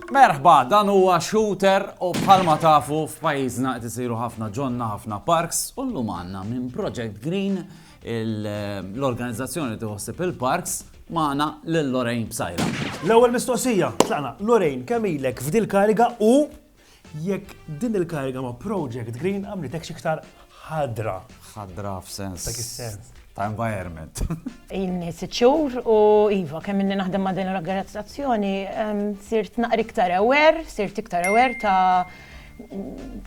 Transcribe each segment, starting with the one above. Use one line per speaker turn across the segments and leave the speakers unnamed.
Merħba, dan huwa shooter u bħalma tafu f'pajjiżna qed isiru ħafna ġonna, ħafna parks u llum għandna minn Project Green l-organizzazzjoni tiħossib il-parks magħna lil Lorraine Bsajra. L-ewwel mistoqsija,
tlaqna, Lorraine, kemm ilek f'dil kariga u jekk din il-kariga ma' Project Green għamlitek xiktar ħadra. Ħadra
f'sens. Dak is-sens. Ta'
environment.
Inni
siċur u Iva, kemm inni naħdem ma' din l-organizzazzjoni, sirt naqri iktar aware, sirt iktar aware ta'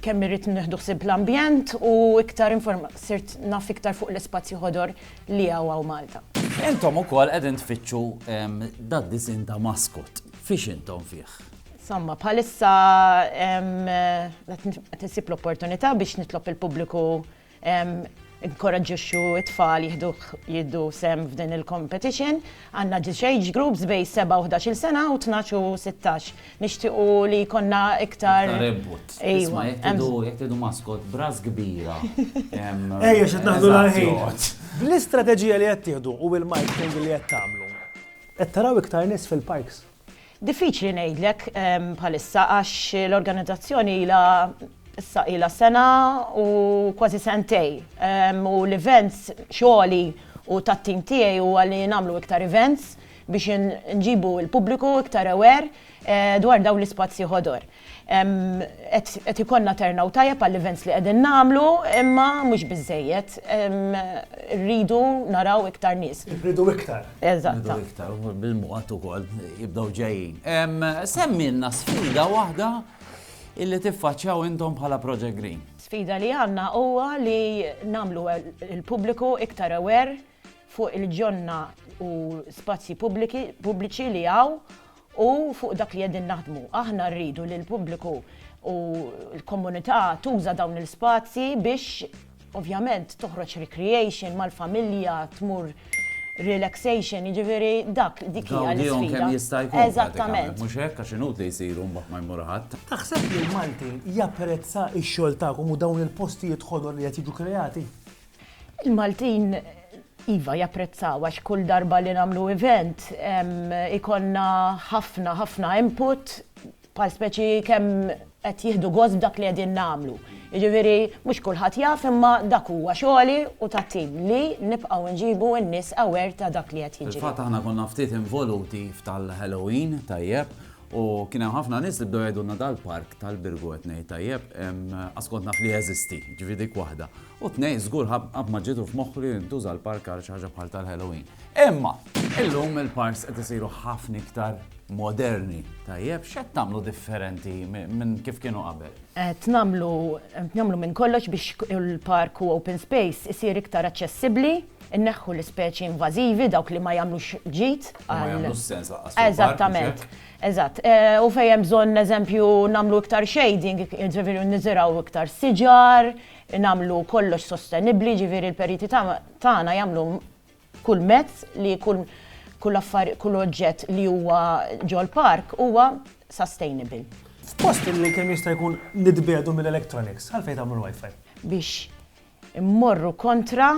kemm irrid nieħdu ħsieb l-ambjent u iktar sirt naf iktar fuq l-ispazju ħodor li hawn Malta. Intom ukoll
qegħdin tfittxu dad disin ta' maskot. Fiex intom fih? Somma, bħalissa
qed isib l-opportunità biex nitlob il-pubbliku Inkoraġġixxu t-tfal jieħdu sehem f'din il-competition. Għandna ġiex age groups bejn 7 u 11-il sena u 12 u 16. Nixtiequ li jkollna iktar. Iktar input. Ejwa.
Jekk tridu maskot b'ras kbira. Ejja
x'qed naħdu l-ħin. Bl-istrateġija li qed tieħdu u bil-marketing li qed tagħmlu, qed taraw iktar nies fil-parks? Diffiċli
ngħidlek bħalissa għax l-organizzazzjoni ilha issa ilha sena u kważi sentej. U l-events xogħli u tat-tim tiegħi huwa li nagħmlu iktar events biex nġibu l-pubbliku iktar aware dwar dawn l-ispazji ħodor. Qed ikollna turnout tajjeb għall-events li qegħdin nagħmlu, imma mhux biżżejjed. Irridu naraw iktar nies. Irridu iktar.
Eżatt. Irridu iktar, u
bil-mod ukoll jibdew ġejjin. Semmilna sfida waħda li tiffaċċjaw intom bħala Project Green. Sfida li għandna
huwa li nagħmlu l-pubbliku iktar aware fuq il-ġonna u spazji pubbliċi li hawn. U fuq dak li qegħdin naħdmu. Aħna rridu li l-pubbliku u l-komunità tuża dawn il-spazji biex ovvjament toħroġ recreation mal-familja, tmur relaxation, jiġifieri dak, dik hija l-isfida. Tgawdihom kemm jista' jkun.
Eżattament. Mhux hekk
għax inutli li
jsiru mbagħad ma jmur ħadd. Taħseb li l-Malti
japprezza x-xogħol tagħkom u dawn il-postijiet ħodor li qed jiġu kreati? Il-Maltin
iva japprezzaw għax kull darba li nagħmlu event ikollna ħafna ħafna input bħal speċi kemm qed jieħdu gost b'dak li qegħdin nagħmlu. Jiġifieri mhux kulħadd jaf imma dak huwa xogħli u tat-tim li nibqgħu nġibu n-nies aware ta' dak li qed jiġri. Fil-fatt aħna konna ftit
involuti f'tal-Halloween tajjeb u kien hemm ħafna nies li bdew jgħidulna dal-park tal-Birgu qed ngħid tajjeb, għax kont naf li jeżisti, ġifieri dik waħda. U tnejn, żgur qatt ma ġietu f'moħħu li jintuża l-park għal xi ħaġa bħal tal-Halloween. Imma, illum il-parks qed isiru ħafna iktar moderni, tajjeb, x'qed tagħmlu differenti minn kif kienu qabel? Qed nagħmlu
nagħmlu minn kollox biex il-park u open space isir iktar aċċessibbli, inneħħu l-ispeċi invażivi dawk li ma jagħmlux ġid. Ma jagħmlux sens
laqqas. Eżattament.
Eżatt. Eh, u fejn hemm bżonn eżempju nagħmlu iktar shading, ġifieri niżiraw iktar siġar, nagħmlu kollox sostenibbli, jiġifieri l-periti tagħna jagħmlu kull mezz li kull kull affar kull oġġett li huwa ġol-park huwa sustainable. F'post
li kemm jista' jkun nitbiegħdu mill-electronics, għalfejn tagħmlu l-wifi? Biex
immorru kontra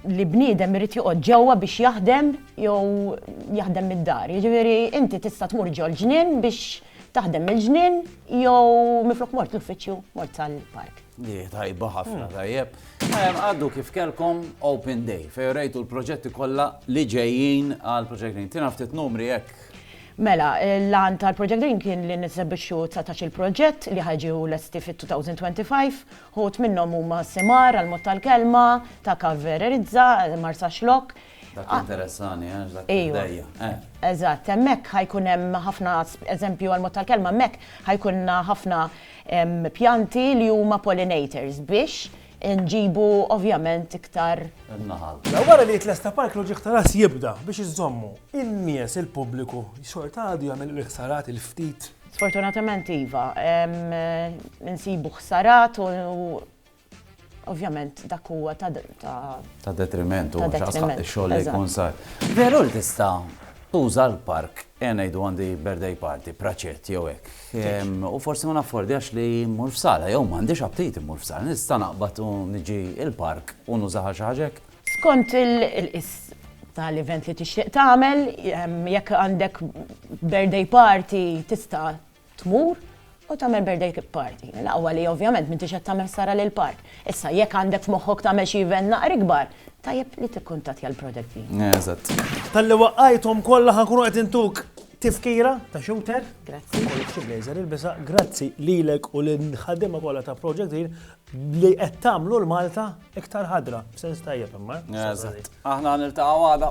li bniedem irid joqgħod ġewwa biex jaħdem jew jaħdem mid-dar. Jiġifieri inti tista' tmur ġol ġnien biex taħdem mill-ġnien jew miflok mort l-uffiċċju mort tal-park. Li tajba ħafna
hmm. tajjeb. Għaddu kif kelkom Open Day fejn rejtu l-proġetti kollha li ġejjin għal Project Green. Tina ftit numri hekk Mela,
l-għan tal-Project Green kien li nisebixxu 19 il-proġett li ħagġu l-esti fit-2025 Wħud minnhom huma Simar, għall-mod tal-kelma, ta' Cav Vererizza, Marsaxlokk. Dak jinteressani,
għax dak il-bdejja. Eżatt, hemmhekk
ħa jkun hemm ħafna, eżempju għall-mod tal-kelma, hemmhekk ħa jkollna ħafna pjanti li huma pollinators biex inġibu ovvjament iktar. In-naħal.
Wara li jitlesta
park loġiq ta' Ras Jibda biex iżommu in-nies, il-pubbliku, xorta għadu jagħmel il-ħsarat il-ftit Sfortunatament
iva, insibu ħsarat u ovvjament dak huwa ta'
ta' detriment u xogħol li jkun
sar.
Veru li tista' tuża l-park ejja ngħidu għandi birthday party, praċett jew hekk. U forsi ma naffordjax li mmur f'sala jew m'għandix aptit immur f'sala, nista' naqbad u niġi l-park u nużaha xi ħaġa hekk? Skont il-qis
ta' l-event li tixtieq tagħmel, jekk għandek birthday party tista' tmur u tagħmel birthday party. L-aqwa li ovvjament m'intix qed tagħmel ħsara lill-park. Issa jekk għandek f'moħħok tagħmel xi event naqra ikbar, tajjeb li tikkuntattja l-project team. Eżatt. Talli
waqqajthom
kollha ħa nkunu qed intuk tifkira ta' shooter. Grazzi. Ikollok xi
blazer ilbisha.
Grazzi lilek u lill-ħaddiema kollha ta' Project Green li qed tagħmlu l-Malta
Iktar
ħadra, b'sens
tajjeb
imma. Eżatt. Aħna niltaqgħu għada.